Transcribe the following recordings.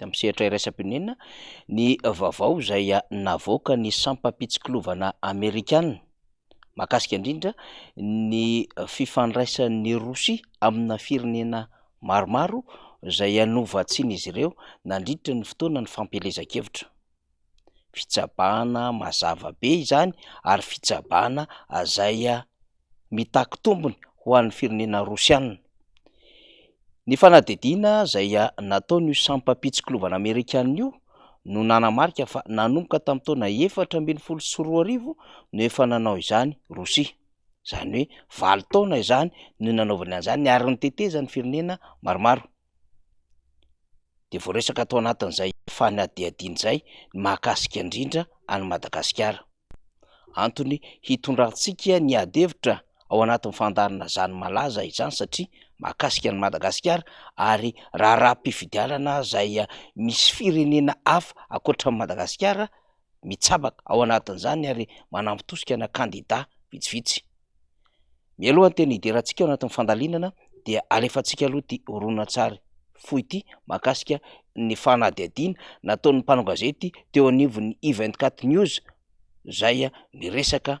tamin'ny sehatra iraisam-pirenena ny vaovao izay navoakan'ny sampam-pitsikilovana Amerikana mahakasika indrindra ny fifandraisan'i Rosia amina firenena maromaro izay hanova tsiny izy ireo nandritra ny fotoana ny fampielezan-kevitra. fitsabahana mazava be izany ary fitsabahana izay mitaky tombony ho an'ny firenena rosiana, ny fanadihadiana izay nataon'io sampam-pitsikilovana amerikana io no nanamarika fa nanomboka tamin'ny taona efatra ambin'ny folo sy roa arivo no efa nanao izany Rosia, izany hoe valo taona izany no nanaovany an'izany ary ny tetezan'ny firenena maromaro. dia voaresaka tao anatin'izay fanadihadiana izay ny mahakasika indrindra an'i Madagasikara. Antony hitondrantsika ny ady hevitra ao anatin'ny fandaharana izany malaza izany satria mahakasika an'i Madagasikara ary raharaham-pifidianana izay misy firenena hafa ankoatra an'i Madagasikara. mitsabaka ao anatin'izany ary manampy tosika na kandida vitsivitsy. Mialoha ny tena hiderantsika ao anatin'ny fandalinana dia alefantsika aloha ity horonantsary fohy ity mahakasika ny fanadihadiana nataon'ny mpanao gazety teo anivon'ny I24 News izay miresaka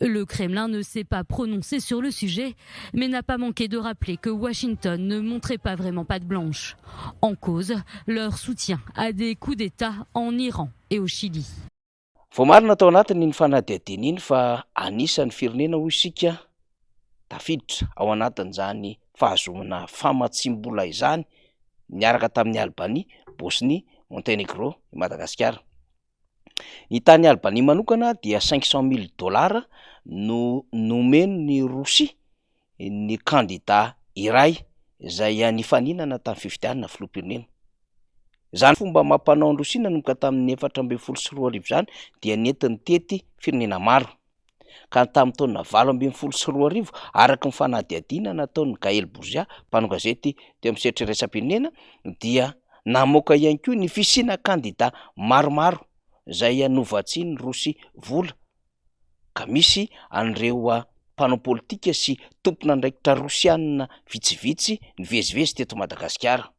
Le Kremlin ne s'est pas prononcé sur le sujet, mais n'a pas manqué de rappeler que Washington ne montrait pas vraiment patte blanche. En cause, leur soutien à des coups d'État en Iran et au Chili. Voamarina tao anatin'iny fanadihadiana iny fa anisan'ny firenena, hoy isika, tafiditra ao anatin'izany fahazoana famatsiam-bola izany niaraka tamin'i Albanie, Bosnie, Montenegro, i Madagasikara. Ny tany Albania manokana dia cinq cent mille dollars no nomen'ny Rosia ny kandida iray izay nifaninana tamin'ny fifidianana filoham-pirenena. Izany fomba amam-panaon'i Rosia nanomboka tamin'ny efatra ambin'ny folo sy roa arivo izany dia nentiny tety firenena maro. ka ny tamin'ny taona valo ambin'ny folo sy roa arivo, araka ny fanadihadiana nataon'i Gaël Bourgia, mpanao gazety teo amin'ny sehatry ny iraisam-pirenena, dia namoaka ihany koa ny fisiana kandida maromaro izay novatsian'ny Rosia vola, ka misy an'ireo mpanao politika sy tompon'andraikitra Rosiana vitsivitsy nivezivezy teto Madagasikara.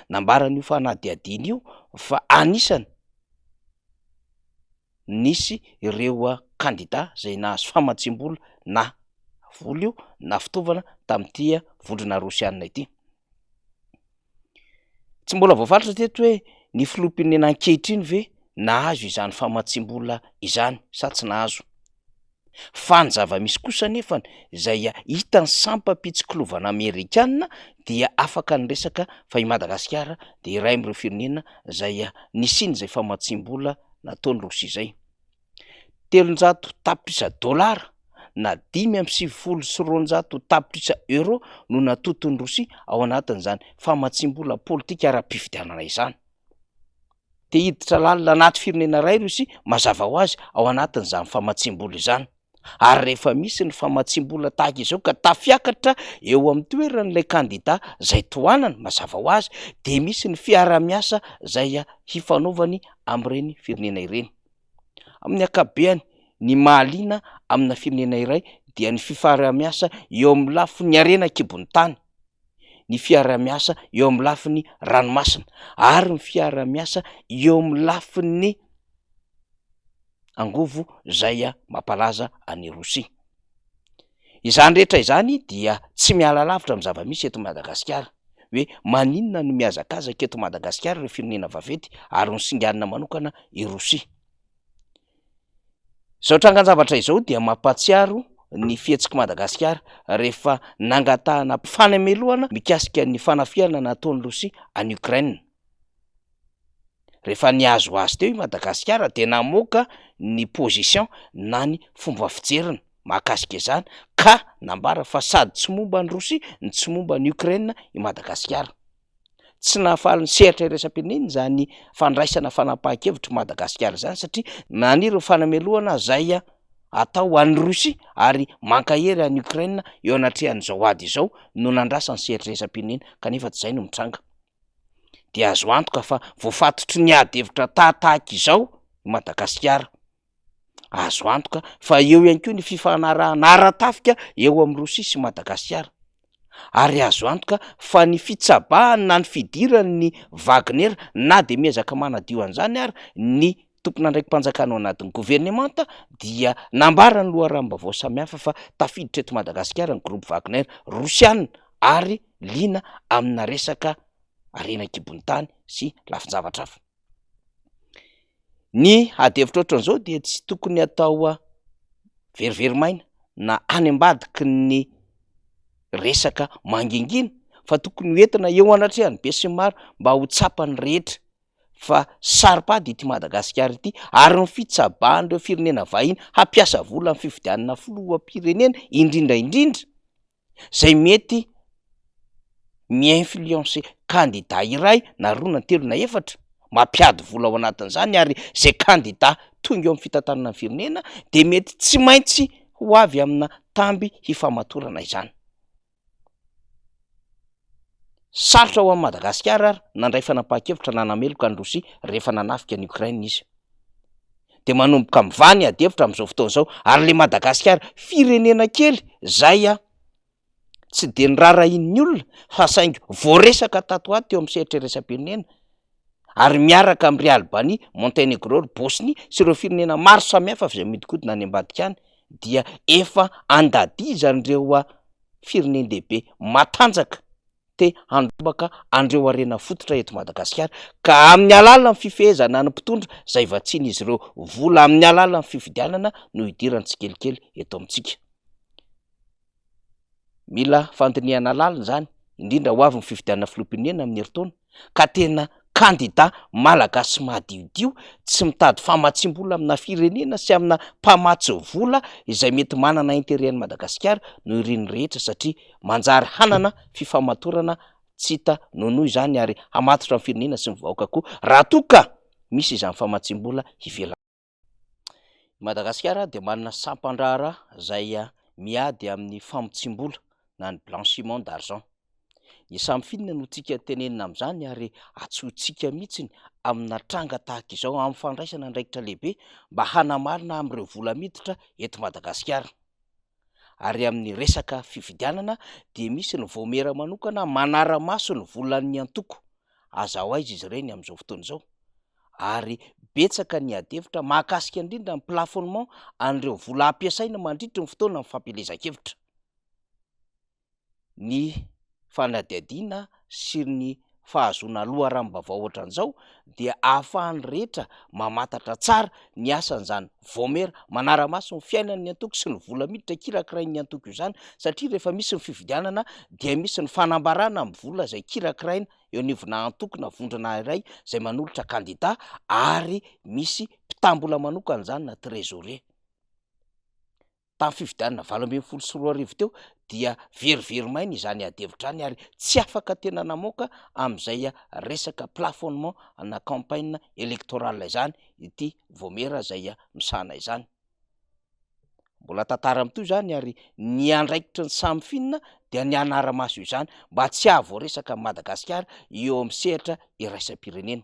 Nambaran'io fanadihadiana io fa anisany. nisy ireo kandida izay nahazo famatsiam-bola na vola io na fitaovana tamin'ity vondrona rosianina ity. Tsy mbola voafaritra hatreto hoe ny filoham-pirenena ankehitriny ve nahazo izany famatsiam-bola izany sa tsy nahazo. Fa ny zava-misy kosa anefa izay hitan'ny sampam-pitsikilovana amerikana dia afaka niresaka fa i Madagasikara dia iray amin'ireo firenena izay nisian'izay famatsiam-bola nataon'i Rosia izay. Telonjato tapitrisa dolara na dimy amby sivifolo sy roanjato tapitrisa euros no natoton'i Rosia ao anatin'izany famatsiam-bola politika ara-pifidianana izany. dia hiditra lalina anaty firenena iray i Rosia, mazava ho azy ao anatin'izany famatsiam-bola izany. Ary rehefa misy ny famatsiam-bola tahaka izao ka tafiakatra eo amin'ny toeran'ilay kandida izay tohanany, mazava ho azy, dia misy ny fiarahamiasa izay hifanaovany amin'ireny firenena ireny. Amin'ny ankapobeny, ny mahaliana amina firenena iray dia ny fifaharahamiasa eo amin'ny lafiny harena an-kibon'ny tany. ny fiarahamiasa eo amin'ny lafiny ranomasina ary ny fiarahamiasa eo amin'ny lafiny angovo izay mampalaza an'i Rosia. Izany rehetra izany dia tsy miala lavitra amin'ny zava-misy eto Madagasikara hoe maninona no mihazakazaka eto Madagasikara ireo firenena vaventy ary nosinganina manokana i Rosia. Izao trangan-javatra izao dia mampahatsiaro ny fihetsik'i Madagasikara rehefa nangatahana fanamelohana mikasika ny fanafihana nataon'i Rosia an'i Ukraine. Rehefa nihazo azy teo i Madagasikara dia namoaka ny position na ny fomba fijeriny mahakasika izany ka nambara fa sady tsy momba an'i Rosia no tsy momba an'i Ukraine i Madagasikara. Tsy nahafaly ny sehatra iraisam-pirenena izany fandraisana fanapahan-kevitr'i Madagasikara izany satria na ny ireo fanamelohana izay atao ho an'i Rosia ary mankahery an'i Ukraine eo anatrehan'izao ady izao no nandrasa ny sehatra iraisam-pirenena kanefa tsy izay no mitranga. Dia azo antoka fa voafatotry ny ady hevitra tahatahaka izao i Madagasikara. Azo antoka fa eo ihany koa ny fifanarahana ara-tafika eo amin'i Rosia sy Madagasikara. Ary azo antoka fa ny fitsabahany na ny fidirany ny Wagner na dia miezaka manadio an'izany ary ny tompon'andraiki-panjakana ao anatin'ny governemanta dia nambaran'ny loharanom-baovao samihafa fa tafiditra eto Madagasikara ny groupe Wagner Rosiana ary liana amina resaka harena an-kibon'ny tany sy lafin-javatra hafa. Ny ady hevitra ohatran'izao dia tsy tokony atao very very maina na any ambadiky ny resaka mangingina fa tokony ho entina eo anatrehan'ny be sy ny maro mba ho tsapan'ny rehetra fa saropady ity Madagasikara ity ary ny fitsabahan'ireo firenena vahiny hampiasa vola amin'ny fifidianana filoham-pirenena indrindra indrindra. izay mety mi-influencer kandida iray na roa na telo na efatra, mampiady vola ao anatin'izany ary izay kandida tonga eo amin'ny fitantanana ny firenena dia mety tsy maintsy ho avy amina tamby hifamatorana izany. Sarotra ho an'i Madagasikara ary nandray fanapahan-kevitra nanameloka an'i Rosia rehefa nanafika an'i Ukraine izy. Dia manomboka mivaha ny adihevitra amin'izao fotoana izao ary ilay Madagasikara firenena kely izay tsy dia noraharahian'ny olona fa saingy voaresaka tato ho ato teo amin'ny sehatra iraisam-pirenena, ary miaraka amin-dry Albania, Montenegro, ry Bosnia sy ireo firenena maro samihafa izay mihodinkodina any ambadika any dia efa andadizan'ireo firenen-dehibe matanjaka te handrombaka an'ireo harena fototra eto Madagasikara ka amin'ny alalan'ny fifehezana ny mpitondra izay vatsian'izy ireo vola amin'ny alalan'ny fifidianana no hidirany tsikelikely eto amintsika. Mila fandinihana lalina izany, indrindra ho avy ny fifidianana filoham-pirenena amin'ny herintaona ka tena kandida malagasy madiodio tsy mitady famatsiam-bola amina firenena sy amina mpamatsy vola izay mety manana intérêt an'i Madagasikara no irin'ny rehetra satria manjary hanana fifamatorana tsy hita nonohy izany ary hamatotra ny firenena sy ny vahoaka koa raha toa ka misy izany famatsiam-bola ivelan'ny I Madagasikara dia manana sampan-draharaha izay miady amin'ny famotsiam-bola na ny blanchiment d'argent. Dia samy finina no tiaka tenenina amin'izany ary antsointsika mihitsy ny amina tranga tahaka izao amin'ny fandraisana andraikitra lehibe mba hanamarina amin'ireo vola miditra eto Madagasikara. ary amin'ny resaka fifidianana dia misy ny vaomiera manokana manara-maso ny volan'ny antoko, aza ho aiza izy ireny amin'izao fotoana izao ary betsaka ny adihevitra mahakasika indrindra ny plafonnement an'ireo vola hampiasaina mandritry ny fotoana ny fampielezan-kevitra. ny fanadihadiana sy ny fahazoana loharanom-baovao ohatran'izao dia ahafahan'ny rehetra mamantatra tsara ny asan'izany vaomiera manara-maso ny fiainan'ny antoko sy ny vola miditra kirakirain'ny antoko izany satria rehefa misy ny fifidianana dia misy ny fanambarana amin'ny vola izay kirakiraina eo anivona antoko na vondrona iray izay manolotra kandida ary misy mpitam-bola manokana izany na trésorer. Tamin'ny fifidianana valo ambin'ny folo sy roa arivo teo dia very very maina izany ady hevitra any ary tsy afaka tena namoaka amin'izay resaka plafonnement na campagne électorale izany ity Vaomiera izay misahana izany. Mbola tantara mitohy izany ary ny andraikitry ny samy finina dia ny hanara-maso izany mba tsy hahavoaresaka an'i Madagasikara eo amin'ny sehatra iraisam-pirenena.